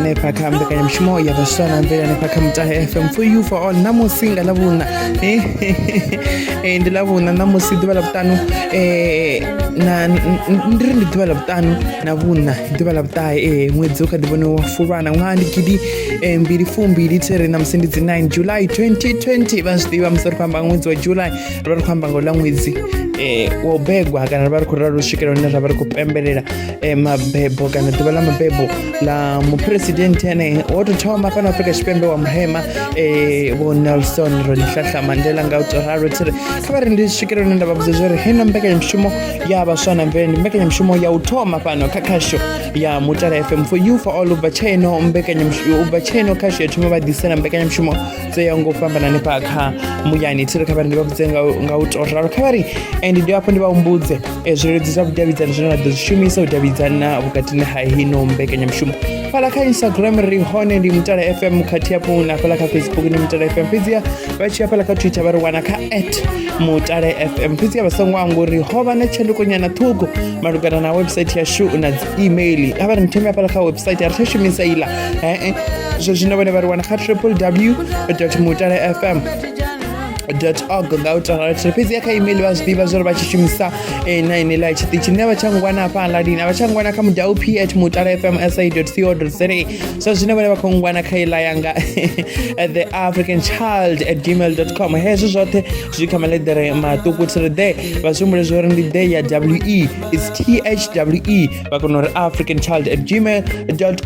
hanefha kha mbekanyamushumo ya vhaswa na mvele hanefha kha mutahe fm for you for all ṋamusi nga ḽavhuṋa eh, eh, ndi ḽavhuṋa ṋamusi ḓuvha ḽa vhuṱanu eh, na ndi ri ndi ḓuvha ḽa vhuṱanu na vhuṋa ḓuvha ḽa vhuṱahe ee ṅwedzi u kha ḓi vhone wa fulwana ṅwaha ndi gidi mbili fumbili thiri ṋamusi ndi dzi 9 july 2020 vha zwi ḓivha musi ri khou amba ṅwedzi wa july ri vha ri khou amba ngo ḽa ṅwedzi um wa u begwa kana ri vha ri khou ralo u swikela hune ra vha ri khou pembelela um mabebo kana ḓuvha ḽa mabebo ḽa muphuresidenthe ane wo tou thoma fhano afrika tshipembe wa muhema um vho nelson rolihlahla mandela nga u tou ralo thiri kha vha ri ndi swikela hune nda vha vhudza zwo ri hena mbekanyamushumo ya vhaswa na mvelele ndi mbekanyamushumo ya u thoma fhano kha khasho ya mutala fm for you for all ubva tshaeno mbekanyamushumo ubva tshaeno khasho ya thoma vha ḓisela mbekanyamushumo dzo yaho ngo fhambana hanefha kha muyani thiri kha vhari ndi vha vhudze nga u to ralo kha vhari and ndi hafho ndi vha humbudze eh, zwileludzi zwa vhudavhidzani zwine ra ḓo zwi shumisa u davhidzana vhukatini ha hino mbekanyamushumo fhala kha instagram ri hone ndi mutala fm khathihi hafhu na fhala kha facebook ndi mutala fm fhedziha vha tshi ya fhala kha twitter vha ri wana kha at mutala fm fhedziha vha songo anguri ho vha na tshandukonyana ṱhukhu malugana na website yashu na email a vha ri ntheme hafhala kha website a ri tsha shumisa iḽa ee zwo zwino vhone vha ri wana kha triple w mutala fm org nga u tarathe fhedzi ya kha email vha zwiḓivha zwo ri vha tshi shumisa eh, na ine ḽa tshiṱitshi nṋe vha tsha ngwana afha aladini a vha tsha ngwana kha mudau p at mutala fm sa co za zwa zwino vhone vha khou ngwana kha iḽa yanga eh, the african child at gmail com hezwo zwoṱhe zwi kha maḽeḓere maṱuku thiri ḓe vha zwi humbule zwo ri ndi ḓe ya we is thwe vha kona uri african child at gmail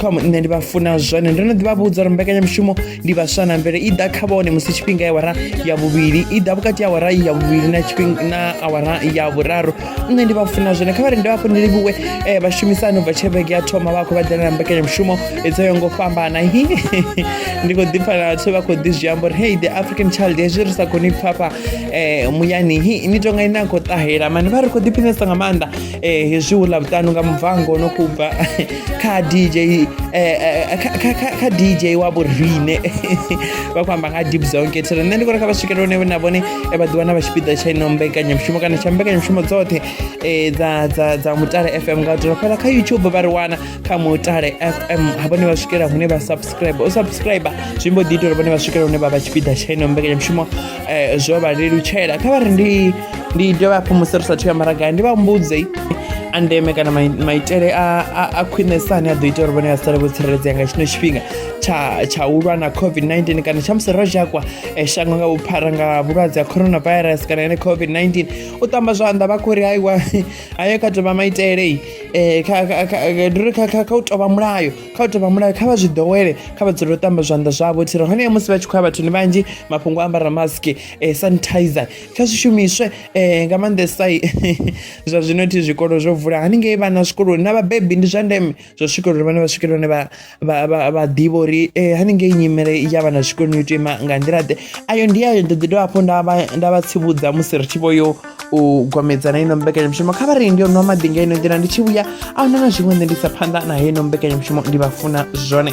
com nṋe ndi vha funa zwone ndo no ḓi vha vhudza uri mbekanyamushumo ndi vhaswa na mvele i ḓa kha vhone musi tshifhinga ya awara ya vhuvhili i ḓa vhukati ya awara ya vhuvhili na tshifhinga na awara ya vhuraru nṋe ndi vha funa zwone kha vha ri ndi vhafho ndi livhuwe eh, vhashumisani ubva tshevhege ya thoma vha khou vha ḓela na mbekanyamushumo dzo yo ngo fhambana ndi khou ḓipfa na vhathu vha khou ḓi zwi amba uri hey the african child hezwi ri sa koni pfhafha um muyani hi ni tonga ine a khou ṱahela mani vha ri khou ḓiphinesa nga maanḓa um hezwi hu ḽa vhuṱanu nga mubvango no khou bva kha dj kha dj wa vhorine vha khou amba nga deep zone kethere nṋe ndi kho ri kha vha swikele hone na vhone vha ḓi wana vha tshipiḓa tsha ino mbekanyamushumo kana tsha mbekanyamushumo dzoṱhe dza dza dza mutale fm nga u tou fhala kha youtube vha ri wana kha mutale fm ha vhone vha swikela hune vha subscribe u subscribe zwi mbo ḓi ita uri vhone vha swikela hune vha vha tshipiḓa tsha ino mbekanyamushumo um zwo vha lelutshela kha vha ri ndi ndi dovha hafhu musi ri sathu ya maragai ndi vha mbudze a ndeme kana maitele a khwinesa ane a ḓo ita uri vhone vha sale vho tsireledzea nga tshino tshifhinga tsha u lwa na covid-19 kana tsha musi ro zhakwa eh, shango nga vhuphara nga vhulwadze ha coronavirus kana ene covid-19 u tamba zwanḓa vha khou ri haiwa ayo kha tovha maitele eh, ndi uri kha u tovha mulayo kha u tovha mulayo kha vha zwi ḓowele kha vha dzule u tamba zwanḓa zwavho thiri hone ya musi vha tshi khou ya vhathuni vhanzhi mafhungo a ambara mask eh, sanitizer kha zwi shumiswe eh, nga maanḓesa zwa zwino thi zwikolo zwo vula haningei vhana zwikoloni na vhabebi ndi zwa ndeme zwo swikelela uri vhana vha swikelela hone vha vha vha vha ḓivha uri eh, haningei nyimele ya vhana zwikoloni yo tea ima nga nḓila ḓe ayo ndi ayo ndo ḓi dovha hafhu nda vha nda vha tsivhudza musi ri tshi vho yo u gwamedzana ino mbekanyamushumo kha vha ri ndi yo nwa maḓi nga ino nḓila ndi tshi vhuya a huna na zwiṅwe nṋe ndi sa phanḓa na heino mbekanyamushumo ndi vha funa zwone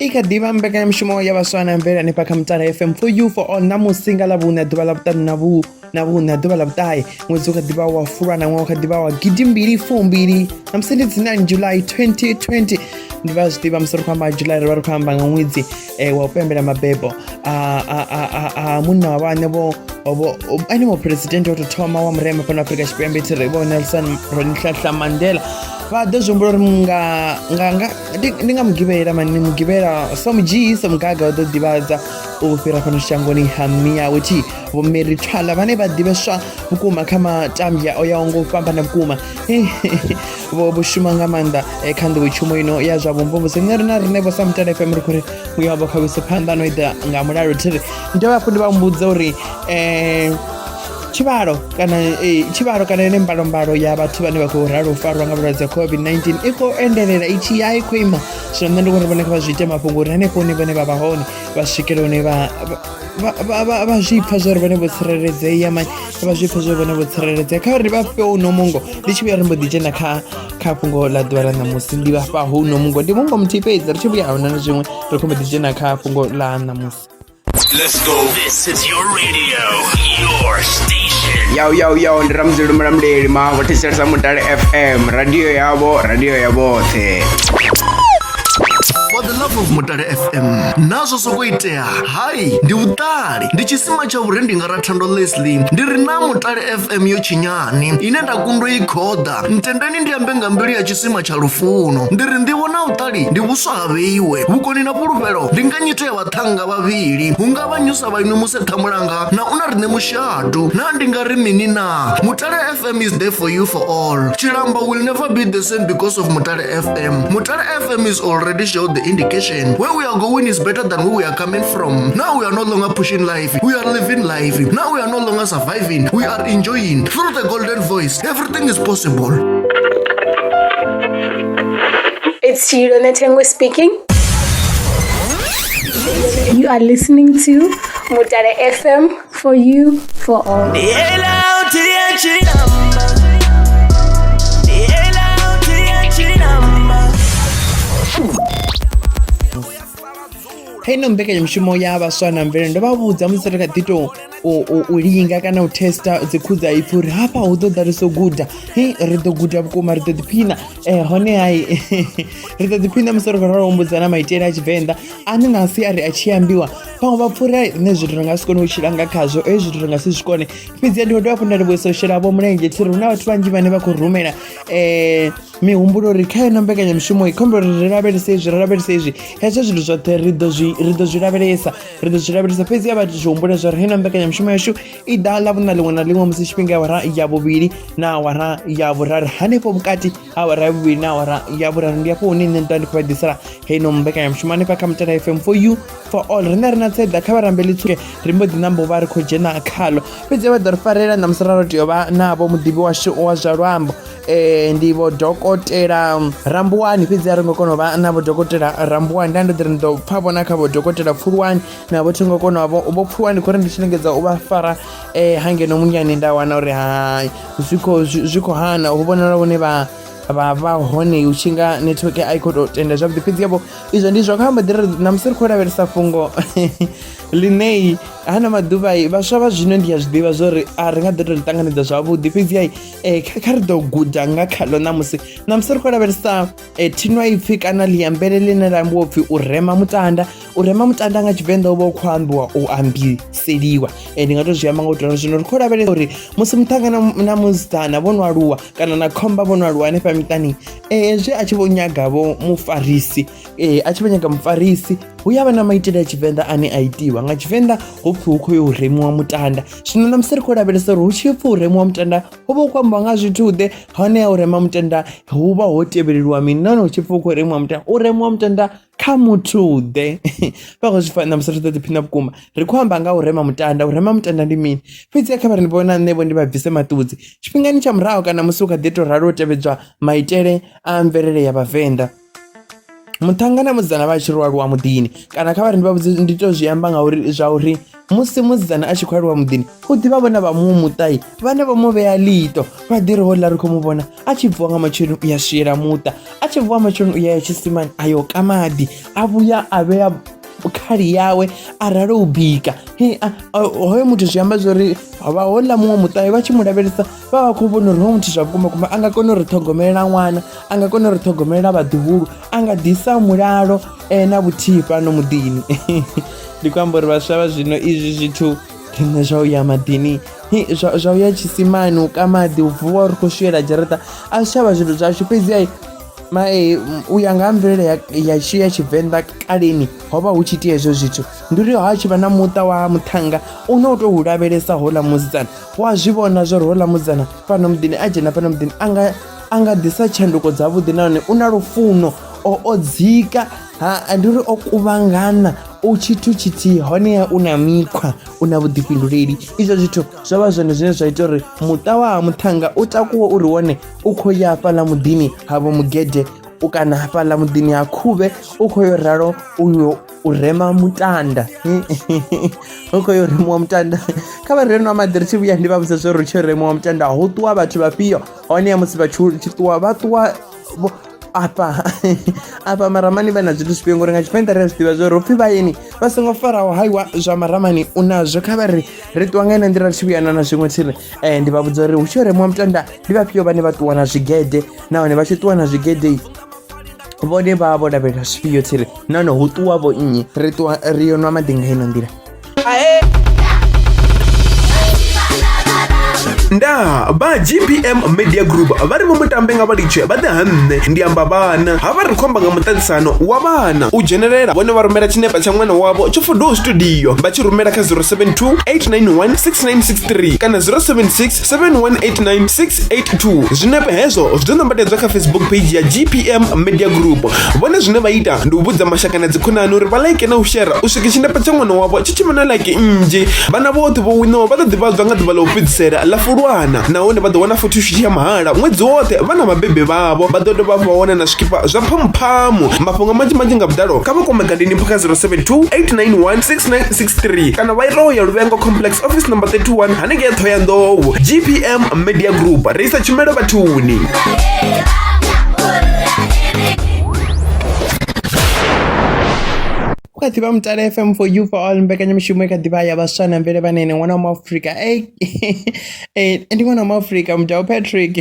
i kha ḓivha mbekanyamushumo ya vhaswa na mvela ni kha mutala fm for you for all na musinga ḽa vhuṋa ḓuvha ḽa vhuṱanu na vhu na vhuṋa ḓuvha ḽa vhuṱahe ṅwedzi u kha ḓivha wa fulwa na ṅwaha u kha ḓivha wa gidi mbili fumbili na musi ndi dzi 9 july 2020 ndi vha zwi ḓivha musi ri khou amba july ri vha ri khou amba nga ṅwedzi um wa u pembela mabebo a munna wa vhaṋe vho ene muphuresidennde wa tou thoma wa murema fhano afrika tshipembe thi ri vho nelson ronihlahla mandela vha ḓo zwi humbula uri nga nga nga ndi ndi nga mugivhela mani mugivhela so mudzhii so mugaga u ḓo ḓivhadza u fhira fhano shangoni ha miyawe thi vho mary twala vhane vha ḓivheswa vhukuma kha matambya o yaho nga u fhambana vhukuma vho vho shuma nga maanḓa eh, kha nḓowetshumo ino ya zwa vhumvumvusi nṋe rina rine vho sa mutala fm ri khou ri muya wavho kha wise phanḓa no ita nga mulalo thi ri ndi dovha hafhu ndi vha humbudza uri um tshivhalo kana eh, tshivhalo kana ine mbalombalo ya vhathu vhane vha khou ralo u farwa nga vhulwadze ha covid-19 i khou endelela i tshi ya i khou ima zwino nṋe ndi vhona vhone kha vha zwi ite mafhungo uri hanefho hune vhone vha vha hone vha swikele hune vha- vha- vha- vha- vha zwi pfa zwo ri vhone vho tsireledzea mani kha vha zwi pfa zwo ri vhone vho tsireledzea kha uri vha fhe uno mungo ndi tshi vhuya ri mbo ḓi dzhena kha kha fhungo ḽa ḓuvha ḽa ṋamusi ndi vhafha huno mungo ndi mungo muthihi fhedzi ri tshi vhuya ahuna na zwiṅwe ri khou mbo ḓi dzhena kha fhungo ḽa ṋamusi Let's go. This is your radio, your station. Yo, yo, yo, ndi Ramzi Lumramde, lima, what is your Samutare FM, radio yabo, radio yabo, te. For the love of Mutare FM, nazwo zwo khou itea, hai, ndi vhuṱali, ndi tshisima tsha vhure ndi nga ra thando Leslie, ndi ri na Mutare FM yo tshinyani, ine nda kundwa i khoḓa, ntendeni ndi ambe nga mbilu ya tshisima tsha lufuno, ndi ri nḓivho na vhuṱali, ndi vhuswa ha vheiwe, vhukoni na fhulufhelo, ndi nga nyito ya vha vhaṱhannga vhavhili hu nga vha nyusa vhainwe muse ṱhamulanga na u na riṋe mushadu na ndi nga ri mini na mutale fm is there for you for all tshilamba will never be the same because of mutale fm mutale fm is already showed the indication where we are going is better than where we are coming from now we are no longer pushing life we are living life now we are no longer surviving we are enjoying through the golden voice everything is possible It's Chiro Netengwe speaking. You are listening to Mutare FM for you, for all. kha ino mbekanyamushumo ya vhaswa na mvelele ndo vha vhudza musi ri kha ḓi tou u linga kana u testa dzikhudza ipfhi uri hafha hu ḓo ḓa ri so guda he ri ḓo guda vhukuma ri ḓo ḓiphina um hone hai ri ḓo ḓiphina musi ri khou ralo humbudza na maitele a tshivenḓa ane na asi a ri a tshi ambiwa vhaṅwe vha pfhura nṋe zwithu ri nga si kone u tshila nga khazwo e zwithu ri nga si zwi kone fhedzi ya ndi khou dovha fhu nda livhuisa u shela vho mulenzhe thi ri hu na vhathu vhanzhi vhane vha khou rumela um mihumbulo uri kha ino mbekanyamushumo i khombo ri ri lavhelese izwi ri lavhelese izwi hezwo zwithu zwoṱhe ri ḓo zwi lavhelesa ri ḓo zwi lavhelesa fhedzi ya vha tshi humbula zwa ri hena mbekanyamushumo yashu i ḓa ḽa vhuna ḽiṅwe na ḽiṅwe musi tshifhinga ya wara ya vhuvhili na awara ya vhuraru hanefho vhukati ha awara ya vhuvhili na awara ya vhuraru ndi afho hune nṋe nda ndi khou vha ḓisela heino mbekanyamushumo hanefha kha mutala fm for you for all riṋe ri na tseḓa kha vharambeli tsuke ri mbo ḓi nambo vha ri khou dzhena khalo fhedzi vha ḓo ri farela na musi ra ro tea u vha navho muḓivhi washu wa zwa luambo Eh, ndi vho dokotela rambuwani fhedzi a ri ngo kona u vha na vho dokotela rambuwani nda ndo ḓiri ndi ḓo pfha vhona kha vho dokotela pfulwani na vho thingo kona vho vho pfulwani khori ndi tshi lingedza u vha fara eh, hangeno munyani nda wana uri hai zwi khou zwi khou hana hu vhonala vhone vha vha vha hone u tshi nga network a i khou tou tenda zwavhuḓi fhedzi yavho izwo ndi zwa kha mbaḓi ri namusi ri khou lavhelesa fhungo ḽinei hana maḓuvha vhaswa vha zwino ndi a zwi ḓivha zwo ri a ri nga ḓo tou ḽi ṱanganedza zwavhuḓi fhedzi ai um kha kha ri ḓo guda nga khaḽo ṋamusi ṋamusi ri khou lavhelesa um thinwa ipfhi kana ḽiambele ḽine ḽa ambiwa upfhi u rema mutanda u rema mutanda nga tshivenḓa u vha u khou ambiwa u ambiseliwa um ndi nga tou zwi amba nga u tou zwino ri khou lavhelesa uri musi muṱhanga na musidzana vho no aluwa kana na khomba vho no aluwa hanefha miṱani um hezwi a tshi vho nyagavho mufarisi ee a tshi vha nyaga mufarisi hu ya vha na maitele a tshivenḓa ane a itiwa nga tshivenḓa ho pfhi hu khou yo u remiwa mutanda zwino na musi ri khou lavhelesa uri hu tshi pfhi u remiwa mutanda ho vha hu khou ambiwa nga zwithu ḓe hone ya u rema mutanda hu vha ho tevheleliwa mini nahone hu tshi pfhi hu khou remiwa mutanda u remiwa mutanda kha muthu ḓe vha khou zwi fana na musi ri ḓo ḓiphina vhukuma ri khou amba nga u rema mutanda u rema mutanda ndi mini fhedzi a kha vha ri vhona nṋe vho ndi vha bvise maṱudzi tshifhingani tsha murahu kana musi u kha ḓi to ralo u tevhedzwa maitele a mvelele ya vhavenḓa muṱhannga na musidzana vha tshi ri aluwa muḓini kana kha vhari ndi vha vhudze ndi to zwi amba ngauri zwa uri musi musidzana a tshi khou aluwa muḓini u ḓivha vhona vha muṅwe muṱai vhane vho mu vhea ḽito vha ḓi ri ho ḽa ri khou mu vhona a tshi bvuwa nga matsheloni u ya swiela muṱa a tshi bvuwa matsheloni u ya ya tshisimani a yo ka maḓi a vhuya a vhea khali yawe a rali u bika hoyo muthu zwi amba zwori vha hoḽa muṅwe muṱahe vha tshi mu lavhelesa vha vha khou vhona uri hoyu muthu zwa vhukuma kuma a nga kona u ri ṱhogomelela ṅwana a nga kona u ri ṱhogomelela vhaḓuhulu a nga ḓisa mulalo eh, na vhuthihi fhano muḓini ndi khou amba uri vhaswa vha zwino izwi zwithu riṋe zwa u ya maḓini zwa u ya tshisimani u ka maḓi u vuwa ri khou swiela dzharaṱa a zwi tshavha zwithu zwashu fhedzi ai mae u ya nga ha mvelele ya tshi ya tshivenḓa kaleni ho vha hu tshi itea hezwo zwithu ndi uri ha tshi vha na muṱa wa muṱhanga u ne u tou lavhelesa houḽa musidzana u a zwi vhona zwo ri houḽa musidzana fhano muḓini a dzhena fhano muḓini a nga a nga ḓisa tshanduko dzavhuḓi nahone u na lufuno o o dzika ha ndi uri o kuvhangana u tshithu tshithihi honeha u na mikhwa u na vhuḓifhinduleli izwo zwithu zwo vha zwone zwine zwa ita uri muṱa wa ha muṱhanga u takuwe uri wone u khou ya hafhaḽa muḓini havho mugede u kana hafhaḽa muḓini ha khuvhe u khou yo ralo uyo u rema mutanda hu khou yo remiwa mutanda kha vha reno maḓi ri tshi vhuya ndi vha vhusa zwo ri tshi remiwa mutanda ho ṱuwa vhathu vhafhio hone ya musi vhathu tshi ṱuwa vha ṱuwa afha afha maramani vha na zwithu zwifhio ngori nga tshivenḓa ri a zwi ḓivha zwo ri upfhi vhayeni vha songo faraho haiwa zwa maramani u nazwo kha vha ri ri ṱuwa nga ina nḓila ri tshi vhuyana na zwiṅwe tshi ri um ndi vha vhudza uri hu tshi yo remiwa mutanda ndi vhafhio vhane vha ṱuwa na zwigede nahone vha tshi ṱuwa na zwigedei vhone vha vho lavhelela zwifhio tsiri nahone hu ṱuwa vho nnyi ri ṱuwa ri yo nwa maḓi nga ino nḓila nda ba gpm media group vha ri vho mutambe nga vhalitshe vha ḓe ha nṋe ndi amba vhana ha vha ri khomba nga muṱaṱisano wa vhana u dzhenelela vhone vha rumela tshinepa tsha ṅwana wavho tsho fodoho studio vha tshi rumela kha 072 891 6963 kana 076 7189682 zwinepe hezwo zwi ḓo nambatedzwa kha facebook page ya gpm media group vhone zwine vha ita ndi u vhudza mashaka na dzikhonani uri vha like na u shera u swika tshinepe tsha ṅwana wavho tshi tshi vhona like nnzhi vhana vhoṱhe vho winaho vha ḓo ḓivhadzwa nga ḓuvha ḽa u fhedzisela ḽa fulwana nahone vha ḓo wana photoshuthi ya mahala ṅwedzi woṱhe vha na vhabebi vhavho vha ḓo dovha vha wana na zwikipa zwa phamphamu mafhungo manzhi manzhi nga vhuḓalo kha vha kwame gadeni phaka 072 891 6963 kana vha ita u ya luvhengo complex office number 31 hanengei thoyandou gpm media group ri isa tshumelo vhathuni ku kha ḓivha mutale fm for you for all mbekanyamushumo i kha ḓivha ya vhaswa na mvele vhanene ṅwana wa muafrika e ndi ṅwana wa muafrika mudau patrick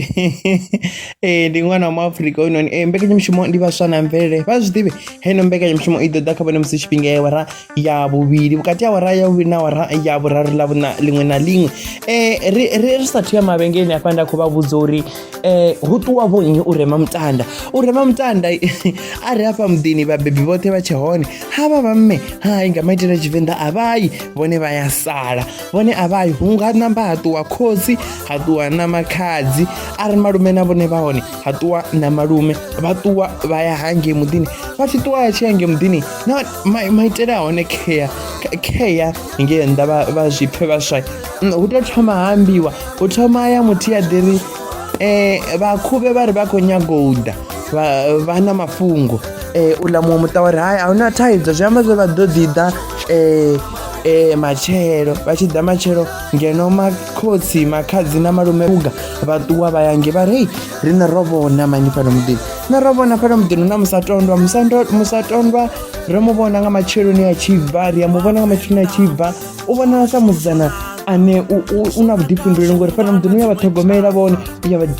e ndi ṅwana wa muafrika hoyunoni e mbekanyamushumo ndi vhaswa na mvelele vha zwi ḓivhe heino mbekanyamushumo i ḓo ḓa kha vhone musi tshifhinga yawara ya vhuvhili vhukati ha awara ya vhuvhili na awara ya vhuraru ḽa vhuna ḽiṅwe na ḽiṅwe um ri ri ri sathu ya mavhengeleni afha nda khou vha vhudza uri um hu ṱuwa vho nnyi u rema mutanda u rema mutanda a ri hafha muḓini vhabebi vhoṱhe vha tshe hone ha vha vha mme hai nga maitele a tshivenḓa a vhayi vhone vha ya sala vhone a vhayi hu nga namba ha ṱuwa khotsi ha ṱuwa na makhadzi a ri malume na vhone vha hone ha ṱuwa na malume vha ṱuwa vha ya hangei muḓini vha tshi ṱuwa ya tshi ya ngei muḓini na mai maitele a hone care care ngei nnḓa vha- vha zwi pfhe vhaswa Mm, hu tou thoma ha ambiwa hu thoma ya muthu ya ḓiri um vhakhuvhe vha ri vha khou nyago u ḓa vha- vha na mafhungo um uḽa muṅwe muṱa wa ri hai a hu na thaidzo zwi amba zwo vha ḓo ḓi ḓa um um matshelo vha tshi ḓa matshelo ngeno makhotsi makhadzi na malume uga vha ṱuwa vha yange vha ri hei riṋe ro vhona mani fhano muḓini nṋe ro vhona fhano muḓini na musatondwa musatondwa ro mu vhona nga matsheloni a tshi bva ri a mu vhona nga matsheloni a tshi bva u vhonala sa musidzana ane u na vhuḓifhinduleli ngori fhano muḓini u ya vha ṱhogomela vhone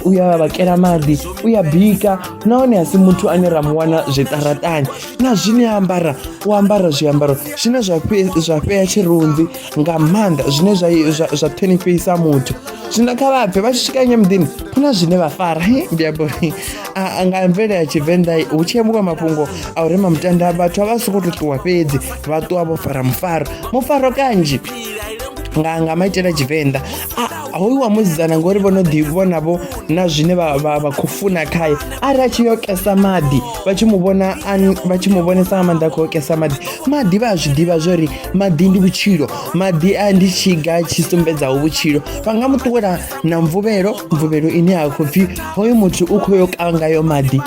u ya vha vhakela maḓi u ya bika nahone a si muthu ane ra mu wana zwiṱaraṱani na zwine a ambara u ambara zwiambaro zwine zwa fhea tshirunzi nga maanḓa zwine zwa zwa- zwa ṱhonifhisa muthu zwino kha vha bve vha tshi swika nyo muḓini hu na zwine vha fara Hi, ndi amba uri a- a nga mvele ya tshivenḓa hu tshi ambiwa mafhungo a u rema mutanda vhathu a vha soko to ṱuwa fhedzi vha ṱuwa vho fara mufaro mufaro kanzhi nga nga maitele a tshivenḓa A- hoyu wa musidzana ngori vho no ḓi vhona vho na zwine vha vha- vha khou funa khaye arali a tshi yo kesa maḓi vha tshi mu vhona an- vha tshi mu vhonesa nga maanḓa a khou yo kesa maḓi maḓi vha a zwi ḓivha zwo ri maḓi ndi vhutshilo maḓi a ndi tshiga tshi sumbedzaho vhutshilo vha nga mu ṱuwela na mvuvhelo mvuvhelo ine ya khou pfhi hoyo muthu u khou yo kangayo maḓi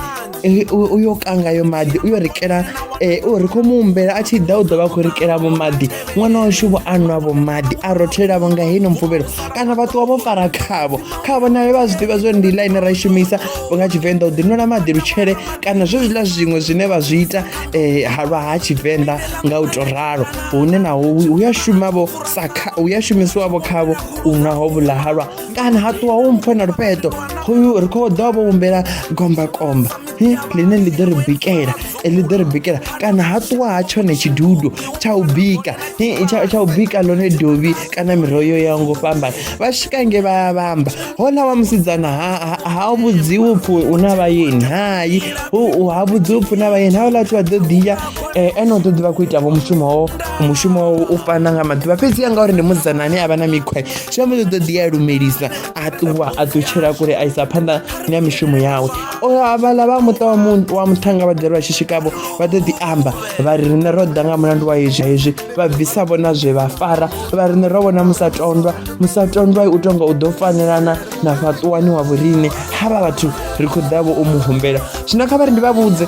Eh, uyo kanga yo maḓi uyo rikela eh, u ri khou mu humbela a tshi ḓa u ḓo vha khou rikela vho maḓi ṅwana washu vho anwa vho maḓi a rothelelavo nga heino mvuvhelo kana vha ṱuwa vho fara khavho khavho nayo vha zwi ḓivha zwo ndi ḽa ine ra i shumisa vho nga tshivenḓa u ḓinwela maḓi lutshele kana zwo zwiḽa zwiṅwe zwine vha zwi ita eh, ha lwa ha tshivenḓa nga u to ralo hune naho hu ya shumavho sa kha hu ya shumisiwavho khavho u nwa ho vhula halwa kana ha ṱuwa ho mpfhe na lufheṱo khoyu ri khou ḓo vho humbela gombakomba he ḽine ḽi ḓo ri bikela eh, ḽi ḓo ri bikela kana ha ṱuwa ha tshone tshidudu tsha u bika he, tsha tsha u bika ḽone dovhi kana miroho yo yaho ngo fhambana vha swika nge vha vha amba hona wa musidzana ha- ha- ha vhudziwi upfhi u na vhayeni hai u- u- ha vhudziwi upfhi u na vhayeni ha vhaḽa vhathu vha ḓo ḓiya eh, ene u ḓo ḓi vha khou ita vho mushumo wo mushumo wo u fana nga maḓuvha fhedzi ya ngauri ndi musidzana ane a vha na mikhwa zwi amba uri u ḓo ḓi ya lumelisa a ṱuwa a ḓutshela kule a isa phanḓa na mishumo yawe O, havhaḽa vha muṱa wa mu- wa muṱhanga vha dela vha tshi swikavho vha ḓo ḓi amba vha ri riṋe ro ḓa nga mulandu wa hezwi hezwi vha bvisa vho na zwe vha fara vha riṋe ro vhona musatondwa musatondwa u tonga u ḓo fanelana na fhaṱuwani wa vhoriṋe ha vha vhathu ri khou ḓavho u mu humbela zwino kha vha ri ndi vha vhudze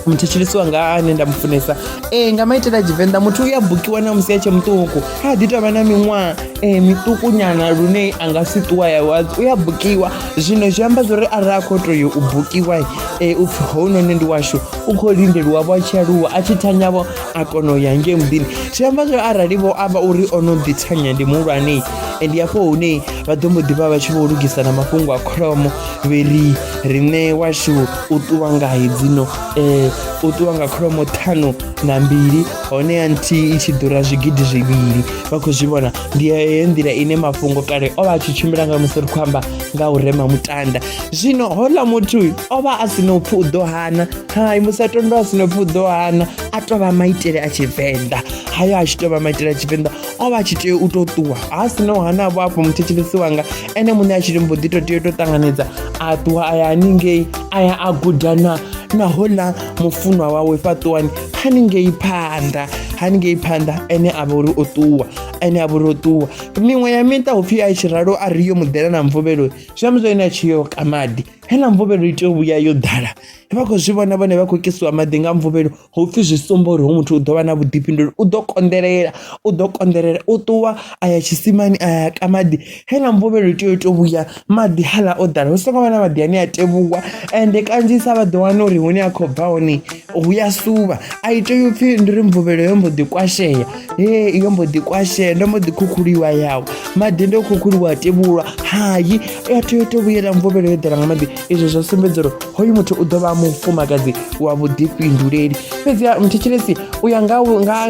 muthetshelisi wanga ane nda mufunesa e nga maitele a tshivenḓa muthu u ya bukiwa na musi a tshe muṱuku ha ḓi tovha na miṅwaha e miṱuku nyana lune a nga si ṱuwa ya u ya bukiwa zwino zwi amba zwori arali a khou toyo u bukiwa e upfhi hounoni ndi washu u khou lindeliwa vho a tshi aluwa a tshi thanyavho a kona u ya ngei muḓini zwi amba zwo arali vho amba uri o no ḓi thanya ndi muhulwane ndi hafho hune vha ḓo mbo ḓivha vha tshi vho lugisa na mafhungo a kholomo vhe ri riṋe washu u ṱuwa nga hedzino um u ṱuwa nga kholomo ṱhanu na mbili hone ya nthihi i tshi ḓura zwigidi zwivhili vha khou zwi vhona ndi heyo nḓila ine mafhungo kale o vha a tshi tshimbila nga musi ri khou amba nga u rema mutanda zwino houḽa muthu o vha a si na upfhi u ḓo hana hai musatondwa a si no pfi u ḓo hana a tou vha maitele a tshivenḓa hayo a tshi tou vha maitele a tshivenḓa o vha a tshi tea u tou ṱuwa ha si no hana vho afho muthetshelesi wanga ene muṋe a tshi ri mbo ḓi tou tea u tou ṱanganedza a ṱuwa a ya haningei a ya a guda na na hola mufunwa wawe fhaṱuwani haningei phanḓa haningei phanḓa ene a vha uri o ṱuwa ene a vha uri o ṱuwa miṅwe ya miṱa hu pfhi a tshi ralo a ri yo muḓela na mvuvhelo zwi amba zwa ene a tshi yo ka maḓi heiḽa mvuvhelo i tea u vhuya yo ḓala vha khou zwi vhona vhone vha khou kisiwa maḓi nga mvuvhelo ho pfhi zwi sumba uri ho muthu u ḓo vha na vhuḓifhinduleli u ḓo konḓelela u ḓo konḓelela u ṱuwa a ya tshisimani a ya ka maḓi heiḽa mvuvhelo i tea u tou vhuya maḓi haḽa o ḓala hu songo vha na maḓi ane a tevhuwa ende kanzhisa vha ḓo wana uri hune a khou bva hone hu ya suvha a i tea upfhi ndi ri mvuvhelo yo mbo ḓi kwashea he iyo mbo ḓi kwashea ndo mbo ḓi khukhuliwa yawo maḓi ndo khukhuliwa a tevhulwa hayi a tea u to vhuyela mvuvhelo yo ḓela nga maḓi izwo zwa sumbedza uri hoyu muthu u ḓo vha mufumakadzi wa vhuḓifhinduleli fhedzi mthetshelesi u ya nga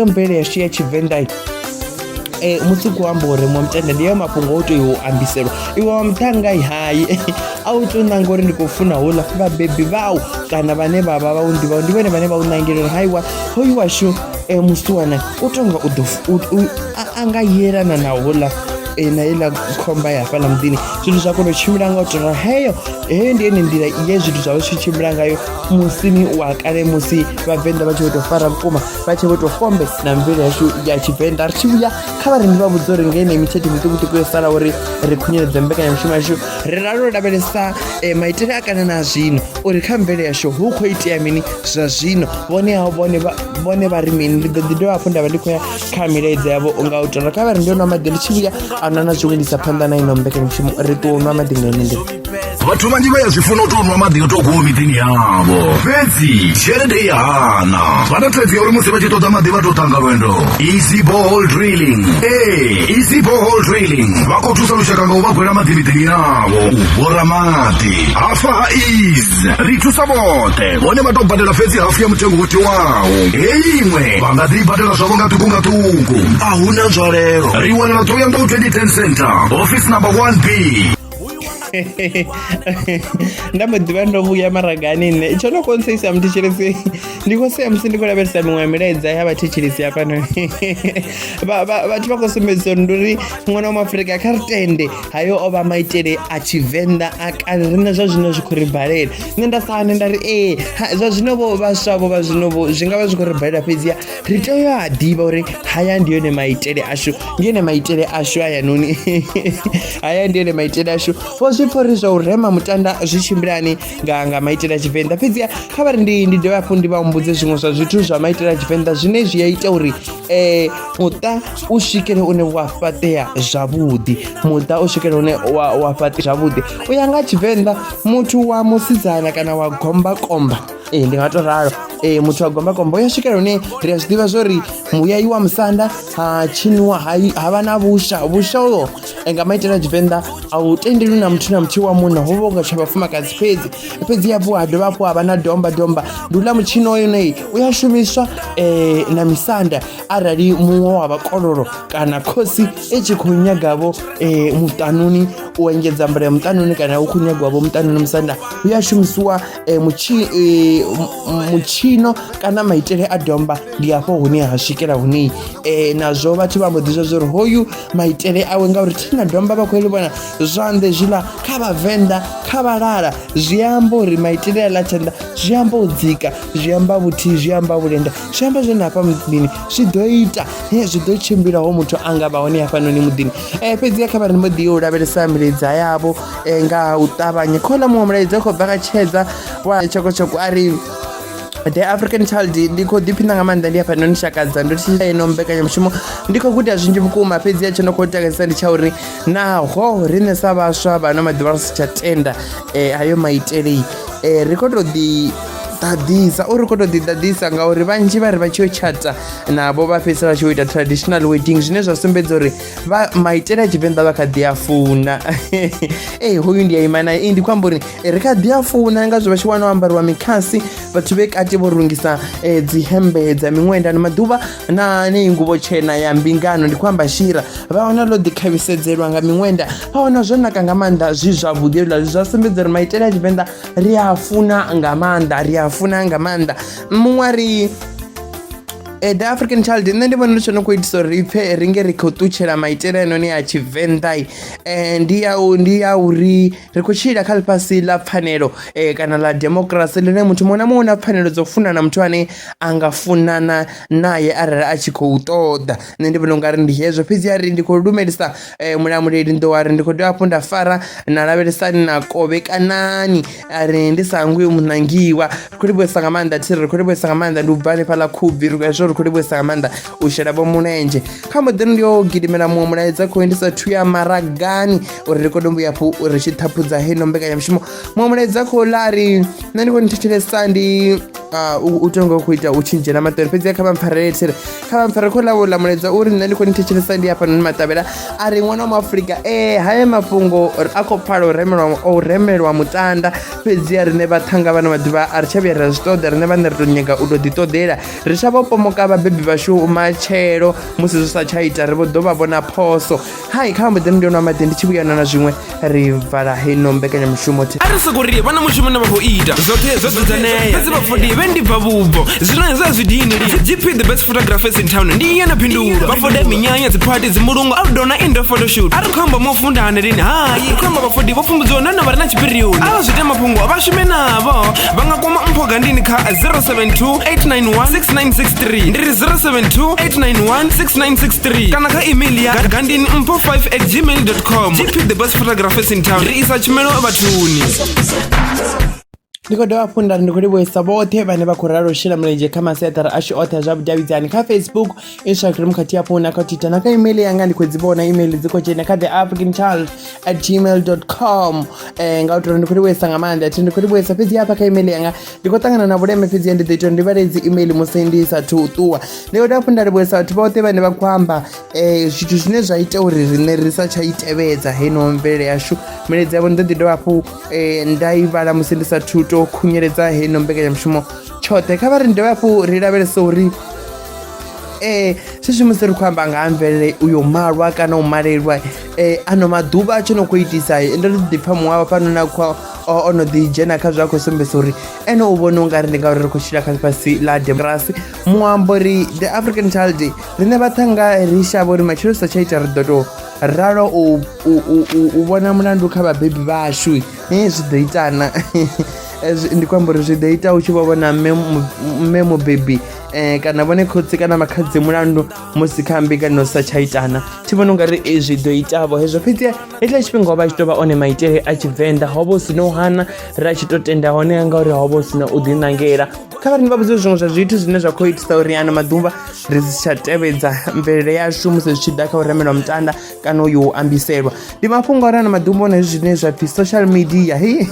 mvelele yashu ya tshivenḓa Eh, mutsiko wa amba uri mutenda ndi ayo mafhungo o tea u ambiselwa iwe wa muṱhanga i hai a u tou nanga uri ndi khou funa houḽa vhabebi vhau kana vhane vha vha vha u ḓivhau ndi vhone vhane vha u nangela uri haiwa hoyu washu um musiwana u tonga u ḓo a nga yelana na houḽa eh, na heiḽa khomba ya hafhaḽa muḓini zwithu zwa kona u tshimbila nga u tou heyo heyo ndi yone nḓila ye zwithu zwa vha tshi tshimbila ngayo musini wa kale musi vhavenḓa vha tshi vho tou fara vhukuma vha tshe vho tou fombe na mvelo yashu ya tshivenḓa ri tshi vhuya kha vharengi vha vhudza uri nge ine mithethe miṱukuṱuku yo sala uri ri khunyeledze mbekanyamushumo yashu ri rali ro lavhelesa e, maitele a kana na zwino uri kha mvelo yashu hu khou itea mini zwa zwino vhone hao vhone vha ri mini ndi ḓo ḓi dovha hafhu nda vha ndi khou ya kha milaedza yavho nga u tora kha vha ri ndi yo nwa maḓi ndi tshi vhuya a nwa na zwiṅwe ndi sa phanḓa na ino mbekanyamushumo ri ṱuwa u nwa maḓi nga ine ndi vhathu vhanzhi vha ya zwi funa u tou nwa maḓi o tou kuwa miḓini yavho fhedzi tshelede i hana vha na thaidzo ya uri musi vha tshi ṱoḓa maḓi vha tou ṱanga lwendo easy bohol drilling ee easy bohol drilling vha khou thusa lushaka nga u vha gwela maḓi miḓini yavho u bora maḓi hafha ha is ri thusa vhoṱhe vhone vha tou badela fhedzi hafu ya mutengo wo tiwaho heyi iṅwe vha nga ḓi badela zwavho nga ṱuku nga ṱuku a hu na nzwalelo ri wanala ṱoyangou 2010 center office number 1 b ndambo ḓivha ndo vhuya maragani nṋe tsho no konseisa muthetshelesi ndi khou sea musi ndi khou lavhelesa miṅwe ya milaedza ya vhathetshelesi hafhano vhathu vha khou sumbedzisa uri ndi uri ṅwana wa maafurika kha ri tende hayo o vha maitele a tshivenḓa a kale riṋe zwa zwino zwi khou ri balela nṋe nda sane nda ri ee zwa zwino vho vhaswa vho vha zwino vho zwi nga vha zwi khou ri balela fhedziha ri tea u ya a ḓivha uri haya ndi yone maitele ashu ndi yone maitele ashu hayanoni haya ndi yone maitele ashu vho zwi pfha uri zwa u rema mutanda zwi tshimbilani nga nga maitele a tshivenḓa fhedziha kha vha ri ndi ndi dovhe hafhu ndi vha humbudze zwiṅwe zwa zwithu zwa maitele a tshivenḓa zwine zwi a ita uri um muṱa u swikele une wa fhaṱea zwavhuḓi muṱa u swikele une wa fhaṱea zwavhuḓi u ya nga tshivenḓa muthu wa musidzana kana wa gombakomba ee ndi nga to ralo ee muthu wa gombakomba u ya swikela hune ri a zwi ḓivha zwo ri muyayi wa musanda ha tshiniwa ha i- ha vha na vhusha vhusha uho eh, nga maitele a tshivenḓa a u tendelwi na muthu na muthihi wa munna ho vha unga tsha vhafumakadzi fhedzi fhedzi hafhu ha dovha hafhu ha vha na domba domba ndi uḽa mutshini wa yone u ya shumiswa eh, na misanda arali muṅwe wa vhakololo kana khosi i tshi khou nyagavho eh, muṱanuni u engedza mbula ya muṱanuni kana u khou nyagwavho muṱanuni musanda u ya shumisiwa eh, mutshi eh, m- mutshino kana maitele a domba ndi hafho hune ha swikela hune eh, nazwo vhathu vha mbo ḓi zwa zwa uri hoyu maitele awe ngauri thina domba vha khou ḽi vhona zwanḓe zwiḽa kha vhavenḓa kha vhalala zwi amba uri maitele a ḽa tshanḓa zwi amba u dzika zwi amba vhuthihi zwi amba vhulenda zwi amba zwone hafha muḓini zwi ḓo ita he zwi ḓo tshimbila ho muthu a nga vha hone hafhanoni muḓini um fhedziha kha vha ri mbo ḓi yo u lavhelesa milaedza yavho eh, nga u ṱavhanya khola muṅwe mulaedza khou bva kha tshedza wa tshokotshoko a ri the african child ndi khou ḓiphina nga maanḓa ndi hafha no ni shakadza ndo thi ino mbekanyamushumo ndi khou guda zwinzhi vhukuma fhedzi ya tsho no khou takadzisa ndi tsha uri naho riṋe sa vhaswa vhano maḓuvha ri si tsha tenda um eh, hayo maitelei um eh, ri khou tou ḓi ḓaḓisa o ri khou tou ḓiḓaḓisa ngauri vhanzhi vha ri vha tshi yo tshata navho vha fhedzisela vha tshi yo ita traditional wedding zwine zwa sumbedza uri vha maitele a tshivenḓa vha kha ḓi a funa ee hoyu ndi a ima naye ee ndi khou amba uri eh, ri kha ḓi a funa nga zwo vha tshi wana o ambariwa mikhasi vhathu vhe kati vho rungisa um eh, dzihembe dza miṅwenda ni maḓuvha na neyi nguvho tshena ya mbingano ndi khou amba shira vha wana ḽo ḓikhavisedzelwa nga miṅwenda vha wana zwo naka nga maanḓa zwi zwavhuḓi hezwiḽa zwi zwa sumbedza uri maitele a tshivenḓa ri a funa nga maanḓa ri a funa nga maanḓa muṅwe ri Eh, the african child nṋe ndi vhona uri tsho no khou itisa uri ipfhe ri nge ri khou ṱutshela maitele ainoni a tshivenḓa um eh, ndi ya ndi ya uri ri khou tshila kha ḽifhasi ḽa pfhanelo um kana ḽa democracy ḽine muthu muṅwe na muṅwe na pfhanelo dzo funana muthu ane a nga funana naye arali a tshi khou ṱoḓa nṋe ndi vhona ungari ndi hezwo fhedzi a ri ndi khou lumelisa eh, mulamuleli ndo wari ndi khou dovha hafhu nda fara na lavhelesani na kovhekanani a ri ndi sa hangwi munangiwa ri khou livhuesa nga maanḓa thiri ri khou livhuesa nga maanḓa ndi u bva hanefhaḽa khubvi zwo ri khou livhuesa nga maanḓa u shela vho mulenzhe kha mboḓi ndi yo gidimela muṅwe mulaedza khou endisa thu ya maragani uri ri kone u vhuya hafhu uri tshi ṱhaphudza heino mbekanyamushumo muṅwe mulaedza khou ḽa ri nṋe ndi khou ni thetshelesa ndi Ah, u u tonga u khou ita u tshi dzhena maṱari fhedzi kha vha mpfarele there kha vha mpfarele khou lavo ḽa mulaedza uri nṋe ndi khou ni thetshelesa ndi hafhanoni maṱavhela a ri ṅwana wa muafurika ee haya mafhungo a khou pfala u remelwa o remelwa mutanda fhedzi a riṋe vhaṱhanga vhano maḓuvha a ri tsha vhuya ra zwi ṱoḓa riṋe vhaṋe ri tou nyaga u tou ḓiṱoḓela ri tsha vho pomoka vhabebi vhashu matshelo musi zwi sa tsha ita ri vho ḓo vha vhona phoso hai kha mbeḓe ndi yonwa maḓi ndi tshi vhuyana na zwiṅwe ri vala heno mbekanyamushumo thi a ri soko ri vha na mushumo ne vha khou ita zwoṱhe zwo dzudzanea fhedzi vhafodi vhe ndi bva vhubvo zwino hezwi a zwi dini li gp the best photographers in town ndi iye na phindulo vhafode minyanya dziphati dzimulungu outdoor na indoor photoshoot a ri khou amba mo funda hani lini hai ri khou amba vhafodi vho pfumbudziwa nahone vha re na tshipirioni a vha zwi ita mafhungo vha shume navho vha nga kwama mpho gandini kha 072 891 6963 ndi ri 072 891 6963 3 kana kha email ya gandini mpo 5 at gmail com gp the best photographers in town ri isa tshumelo vhathuni ndi khou dovha funda ndi khou livhuisa vhoṱhe vhane vha khou ralo u shela mulenzhe kha masiaṱari ashu oṱhe a zwa vhudavhidzani kha facebook instagram khathihi hafhu na kha twitter na kha email yanga ndi khou dzi vhona email dzi khou dzhena kha the african child at gmail com um nga u tori ndi khou livhuisa nga maanḓa thi ndi khou livhuisa fhedzi hafha kha email yanga ndi khou ṱangana na vhuleme fhedzi ndi ḓo ita uri ndi vhale dzi email musi ndi sathu u ṱuwa ndi khou hafhu nda livhuesa vhathu vhoṱhe vhane vha khou amba um zwithu zwine zwa ita uri riṋe ri sa tsha i tevhedza heno mvelele yashu milaedza yavho ndi ḓo ḓi dovha hafhu um nda i vhala musi ndi sathu to khunyeledza heno mbekanyamushumo tshoṱhe kha vha ri ndi dovha hafhu ri lavhelesa uri eh sisi musi ri khou amba nga ha mvelele uyo malwa kana u malelwa eh ano maḓuvha a tsho no khou itisa ndo ri ḓipfha muṅwe wa fhano na khou o no ḓi dzhena kha zwe a khou sumbedzisa uri ene u vhona u nga ri ndi ngauri ri khou tshila kha ḽifhasi ḽa democracy muambo ri the african child riṋe vhaṱhanga ri shavha uri matshilo sa tsha ita ri ḓo tou ralo u vhona mulandu kha vhabebi vhashu e zwi ḓo itana eh, ndi khou amba uri zwi ḓo ita u tshi vho vhona mme mubebi um kana vhone khotsi kana makhadzi mulandu musi kha mbingano sa tsha itana thi vhona u nga ri eh, zwi ḓo itavho hezwo fhedzi hetshiḽa tshifhinga ho vha tshi tou vha one maitele a tshivenḓa ho vha hu si no hana ri a tshi tou tenda hone nga uri ho vha hu si na u ḓiṋangela kha vhari ni vha vhudze zwiṅwe zwa zwithu zwine zwa khou itisa uri ano maḓuvha ri si tsha tevhedza mvelele yashu musi zwi tshi ḓa kha u remelwa mutanda kana uyo u ambiselwa ndi mafhungo uri ano maḓuvha hone zwine zwa pfhi social media hi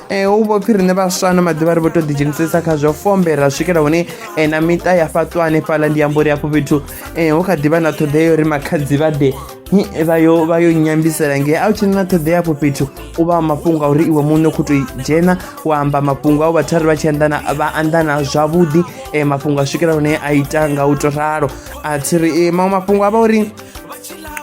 eh, u vho pfhi riṋe vhaswa ano maḓuvha ri vho tou ḓidzhenisesa kha zwo fombe ra swikela hune eh, na miṱa ya fhaṱwa hanefhaḽa ndi amba uri afho fhethu eh, hu kha ḓi vha na ṱhoḓea uri makhadzi vha ḓe Nyi- vha yo vha yo nyambisela nge a u tshena na ṱhoḓea afho fhethu u vha mafhungo a uri iwe muṋe u khou tou dzhena wa amba mafhungo au vhathu a ri vha tshi anḓana vha anḓana zwavhuḓi eh, mafhungo a swikela hune a ita nga u to ralo a thi ri eh, maṅwe mafhungo a vha uri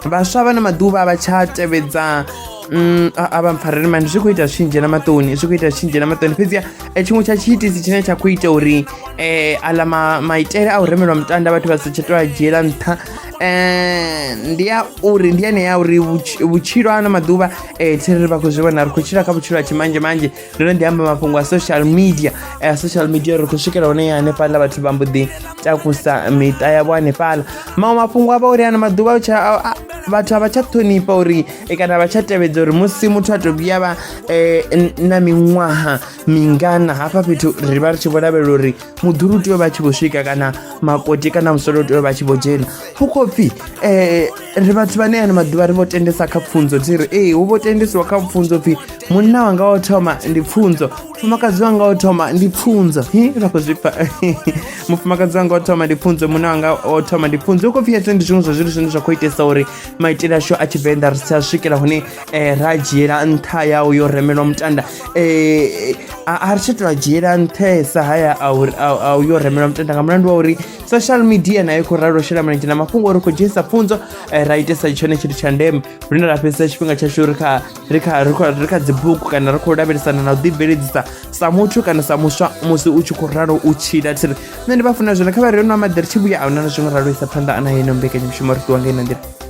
vhaswa vha na maḓuvha a vha tsha tevhedza mm, a a vha mpfarele mani zwi khou ita zwi tshi dzhena maṱoni zwi khou ita zwi tshi dzhena maṱoni fhedziha eh, tshiṅwe tsha tshiitisi tshine tsha khou ita uri um aḽa ma- maitele a u remelwa mutanda vhathu vha si tsha tou a dzhiela nṱha Eh, ndi ya uri ndi yane ya uri vhutsh- vhutshilo ano maḓuvha um thiri vha khou zwi vhona ri khou tshila kha vhutshilo ha tshimanzhe manzhe ndo no ḓi amba mafhungo a social media um social media ri khou swikela hone ya hanefhaḽa vhathu vha mbo ḓi takusa miṱa yavho hanefhaḽa maṅwe mafhungo a vha uri ano maḓuvha tsha- a- a- vhathu a vha tsha ṱhonifha uri eh, kana a vha tsha tevhedza uri musi muthu a tou vhuya vha um na miṅwaha mingana hafha fhethu ri vha ri tshi vho lavhelela uri muḓulu u tea u vha tshi vho swika kana makoti kana musolo u tea u vha tshi vho dzhena hu khou pfhi um ri vhathu vhane ano maḓuvha ri vho tendesa kha pfunzo dzi ri ee hu vho tendesiwa kha pfunzo pfhi munna wanga o thoma ndi pfunzo mufumakadzi wanga o thoma ndi pfunzo hi ra khou zwipfa mufumakadzi wanga o thoma ndi pfunzo munna wanga o thoma ndi pfunzo hu khou pfhi hezwo ndi zwiṅwe zwa zwithu zwine zwa khou itesa uri maitele ashu a tshivenḓa ri si a swikela hune eh, ra dzhiela nṱha yau yo remelwa mutanda eh, a ri tsha tou dzhiela nṱhesa haya a u yo remelwa mutanda nga mulandu wa uri social media nayo khou ralo shela mulenzhe na mafhungo uri khou dzhenisa pfunzo eh, ra itesa tshone tshithu tsha ndeme lune ra fhedzisa tshifhinga tshashu ri kha ri kha ri kha ri kha dzibugu kana ri khou lavhelesana na u ḓibveledzisa sa muthu kana sa muswa musi u tshi khou ralo u tshila thiri nṋe ndi vha funa zwone kha vha re no amaḓi ri tshi vhuya a huna na zwiṅwe ralo isa phanḓa ana yeno mbekanyamushumo ri ṱuwa nga ina nḓila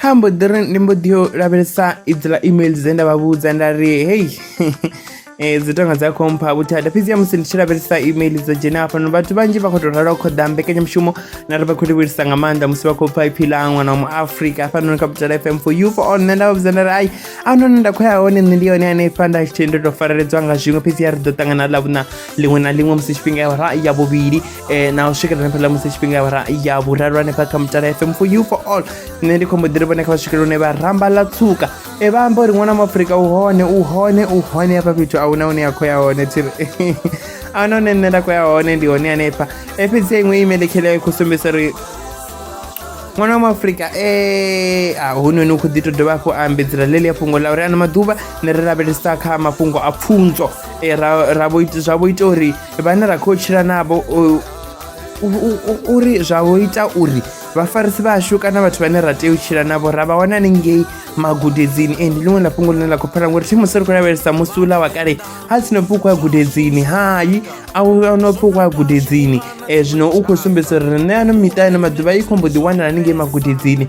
ha mbo ḓi ri ndi mbo ḓi yo lavhelesa idziḽa email dze nda vha vhudza nda ri hei eh, dzi tonga dza khompha vhuthada fhedzi ya musi ndi tshi lavhelesa email dzo dzhena hafhano vhathu vhanzhi vha khou tou rala u khoḓa mbekanyamushumo na ri vha khou livhelisa nga maanḓa musi vha khou pfa iphi ḽa ṅwana wa muafrika hafhanoni kha butala fm for you for on nṋe nda vha vhudza nda ri ai a noni nda khou ya hone nṋe ndi yone hanefha nda tshithe ndo tou fareledzwa nga zwiṅwe fhedzi ya ri ḓo ṱangana ḽa vhuṋa liṅwe na liṅwe musi tshifhinga ya vhara ya vhuvhili eh, na u swikelela hanefhaḽa musi tshifhinga ya vhara ya vhuraru hanefha kha mutala fm for you for all nṋe ndi khombo ḓiri vhone kha vha swikelela hune vha ramba ḽa tsuka e vha amba uri ṅwana wa muafurika u hone u hone u hone hafha fhethu a huna hune ya khou ya hone thiri a huna hune nṋe nda khou ya hone ndi hone hanefha e fhedzi ya iṅwe email kheleyo i khou sumbedza uri ṅwana wa muafurika e a hunoni u khou ḓi to dovha hafhu a ambedzela ḽeḽi ya fhungo ḽa uri ano maḓuvha ni ri lavhelesa kha mafhungo a pfunzo eh, ra ra vho ita zwa vho ita uri vhane ra khou tshila navho u- u- u- u- uri zwa vho ita uri vhafarisi vhashu kana vhathu vhane ra tea u tshila navho ra vha wana hanengei magudedzini e ndi ḽiṅwe ḽa fhungo ḽine ḽa khou phela ngori thi musi ri khou lavhelesa musi uḽa wa kale ha tsino pfi u khou ya gudedzini hai a u a no pfi u khou ya gudedzini um zwino u khou sumbedza uri riṋe ano miṱa ano maḓuvha i khombo ḓi wanala hanengei magudedzini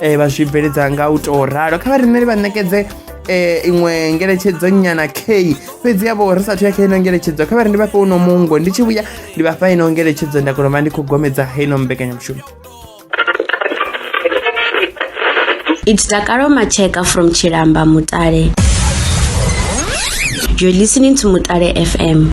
eh, vha zwi bveledza nga u tou ralo kha vha rineli vha ṋekedze eh, iṅwe ngeletshedzo nyana key fhedzi yavho ri sathu ya kha ino ngeletshedzo kha vha ri ndi vhafhe uno mungo ndi tshi vhuya ndi vhafha ino ngeletshedzo nda kona vha ndi khou gomedza heino mbekanyamushumo It's Dakaro Macheka from Chilamba Mutale. You're listening to Mutale FM.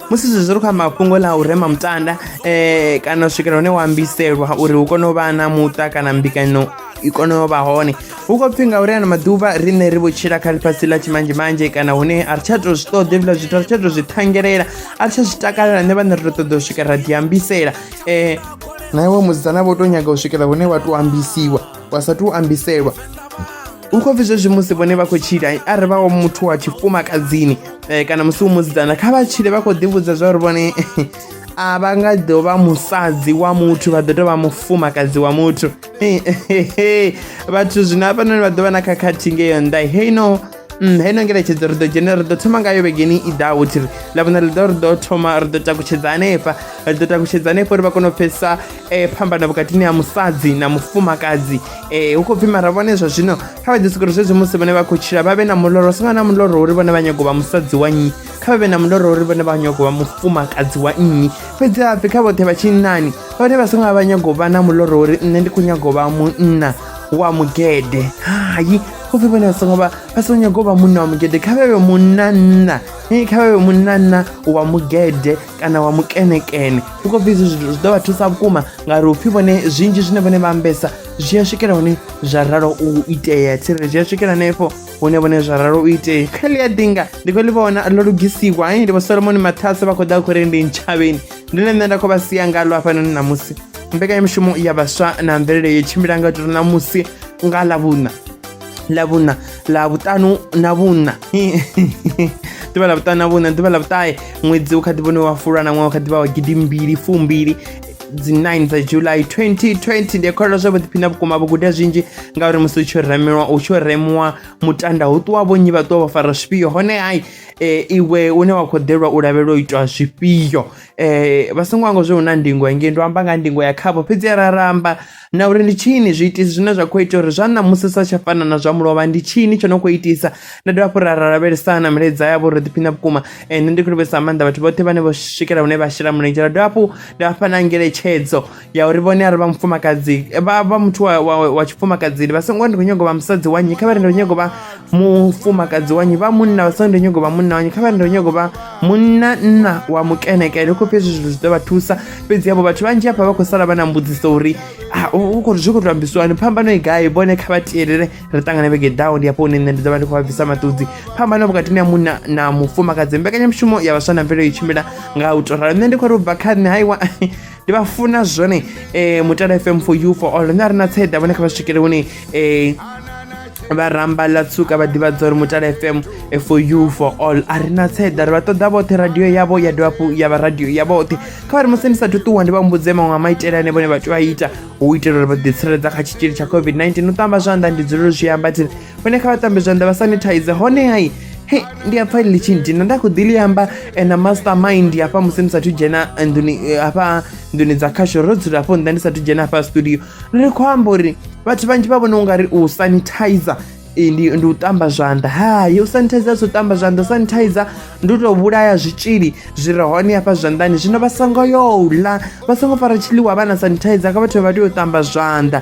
musi zwezwi zwi ri kha mafhungo ḽa u rema mutanda um kana u swikela hune wa ambiselwa uri hu kone u vha na muṱa kana mbikano i kone u vha hone hu khou pfhi ngauri ano maḓuvha riṋe ri vho tshila kha ḽifhasi ḽa tshimanzhemanzhe kana hune a ri tsha tou zwi ṱoḓe hezwiḽa zwithu a ri tsha tou zwi ṱhangelela a ri tsha zwi takalela nṋe vhaṋe ri tou ṱoḓa u swika ra diambisela um na iwe musidzana vho tou nyaga u swikela hune wa tou ambisiwa wa sa tou ambiselwa u khou pfhi zwezwi musi vhone vha khou tshila arali vha wa muthu wa tshifumakadzini um kana musi u musidzana kha vha tshile vha khou ḓivhudza zwa uri vhone a vha nga ḓo vha musadzi wa muthu vha ḓo tou vha mufumakadzi wa muthu vhathu zwino hafhanoni vha ḓo vha na khakhathi ngeyo nnḓa hei no Mm, hei no ngelekedzo ri ḓo dzhene ri ḓo thoma ngayo vhegeni i ḓaho thiri ḽa vhona ḽi ḓo ri ḓo thoma ri ḓo takutshedza hanefha ri ḓo takutshedza hanefha uri vha kone u pfhesesa um phambano vhukatini ha musadzi na mufumakadzi ee hu khou pfhi mara vhone zwa zwino kha vha ḓi sokori zwezwi musi vhone vha khou tshila vha vhe na muloro songo na muloro uri vhone vha nyago vha musadzi wa nnyi kha vha vhe na muloro uri vhone vha nyago vha mufumakadzi wa nnyi fhedzi hapfhi kha vhoṱhe vha tshinnani vhone vha songo vha vha nyago vha na muloro uri nṋe ndi khou nyago vha munna wa mugede hayi go fe bone songo ba ba songo nyako ba munna wa mogede kha bebe munna nna e kha bebe munna nna wa mogede kana wa mukenekene ndi khou pfhi izwi zwithu zwi ḓo vha thusa vhukuma ngauri upfhi vhone zwinzhi zwine vhone vha ambesa zwi a swikela hone zwa ralo u itea tsirele zwi a swikela hanefho hune vhone zwa ralo u itea kha ḽi a dinga ndi khou ḽi vhona ḽo lugisiwa ai ndi vho solomoni mathase vha khou ḓa khou ri ndi ntshavheni ndi ḽe nṋe nda khou vha sia ngalo hafhanoni ṋamusi mbekanyamushumo ya vhaswa na mvelele yo tshimbila nga tori ṋamusi nga ḽa vhuṋa ḽa vhuṋa ḽa vhuṱanu na vhuṋa ḓuvha ḽa vhuṱanu na vhuṋa ḓuvha ḽa vhuṱahe ṅwedzi u kha ḓi vhone wa fulwa na ṅwaha u kha ḓi vha wa gidi mbili fumbili dzi 9 dza july 2020 ndi kholelwa zwa vhuḓiphina vhukuma vho guda zwinzhi ngauri musi u tshi remiwa u tshi remiwa mutanda hu ṱuwa vhonnyi vha ṱuwa vho fara zwifhio hone hai e, iwe une wa khou ḓelwa u lavhelela u itwa zwifhio um vha songo anga zwi hu na ndingo engei ndo amba nga ndingo ya khavho fhedzi ra ramba na uri ndi tshini zwiitisi zwine zwa khou ita uri zwa ṋamusi sa tsha fana na zwa mulovha ndi tshini tsho no khou itisa nda dovha hafhu ra ra lavhelesa na milaedza yavho ro ḓiphina vhukuma ende ndi khou livhesa maanḓa vhathu vhoṱhe vhane vho swikela hune vha shela mulenzhe ra dovha hafhu nda vha fha na ngeletshedzo ya uri vhone ari vha mufumakadzi vha vha muthu wa, wa, wa tshifumakadzini vha songo ndi khou nyago vha musadzi wa nnyi kha vha ri ndi khou nyago vha mufumakadzi wanyu vha munna vha sa ndo nyago vha munna wanyu kha vha ndo nyago vha munna nna wa mukenekele u khou pfhi hezwi zwithu zwi ḓo vha thusa fhedzi havho vhathu vhanzhi hafha vha khou sala vha na mbudziso uri ah, u khou zwi khou tou ambisiwani phambano i gai vhone kha vha tiyelele ri ṱangane vhege ḓaho ndi hafho hune nṋe ndi ḓo vha ndi khou vha bvisa maṱudzi phambano vhukatini ya munna na mufumakadzi mbekanyamushumo ya vhaswa na mvelelo i tshimbila nga u tou ralo nṋe ndi khou ri u bva kha nṋe haiwa ndi vha funa zwone um mutala f m for you for all nṋe a ri na tsaida vhone kha vha swikele hune um vha ramba ḽa tsuka vha ḓivhadza uri mutala fm eh, for you for all a ri na tseḓa ri vha ṱoḓa vhoṱhe radio yavho ya dovha hafhu ya vha radio ya vhoṱhe kha vha ri musi ndi sathu ṱuwa ndi vha mbudze maṅwe a maitele ane vhone vha tea a ita u itela uri vha ḓitsireledza kha tshitzhili tsha covid-19 u ṱamba zwanḓa ndi dzulelo zwi amba thi hone kha vha tambe zwanḓa vha sanitize hone hai he ndi a pfa ḽi tshi ndina nda khou ḓi ḽi amba eh, na master mind hafha musi ndi sathu dzhena eh, nḓuni eh, hafha nḓuni dza khasho ro dzula hafho nnḓa ndi sathu dzhena hafha studio ri khou amba uri vhathu vhanzhi vha vhona u nga ri u sanitizer ndi ndi u tamba zwanḓa hayi u sanitizer so tamba zwanḓa sanitizer ndi u tou vhulaya zwitzhili zwi re hone hafha zwanḓani zwino vha songo yo ḽa vha songo fara tshiḽiwa vha na sanitizer kha vhathu vha tea u tamba zwanḓa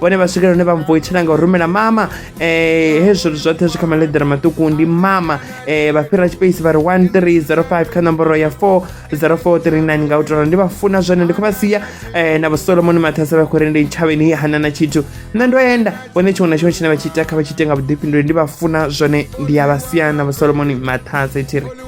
vhone vha swikela hune vha mvoitshela nga u rumela mama um hezwo zwoṱhe zwi kha maledera maṱuku ndi mama um vha fhira tshipeisi vha ri 1305 kha nomboro ya 40439 nga u tola ndi vha funa zwone ndi khou vha sia um na vhosolomoni mathasa vha khou ri ndi tshavheni hana na tshithu nṋe ndo enda vhone tshiṅwe na tshiṅwe tshine vha tshi ita kha vha tshi ite nga vhuḓifhinduli ndi vha funa zwone ndi ya vha sia na vhosolomoni mathasa i tshi ri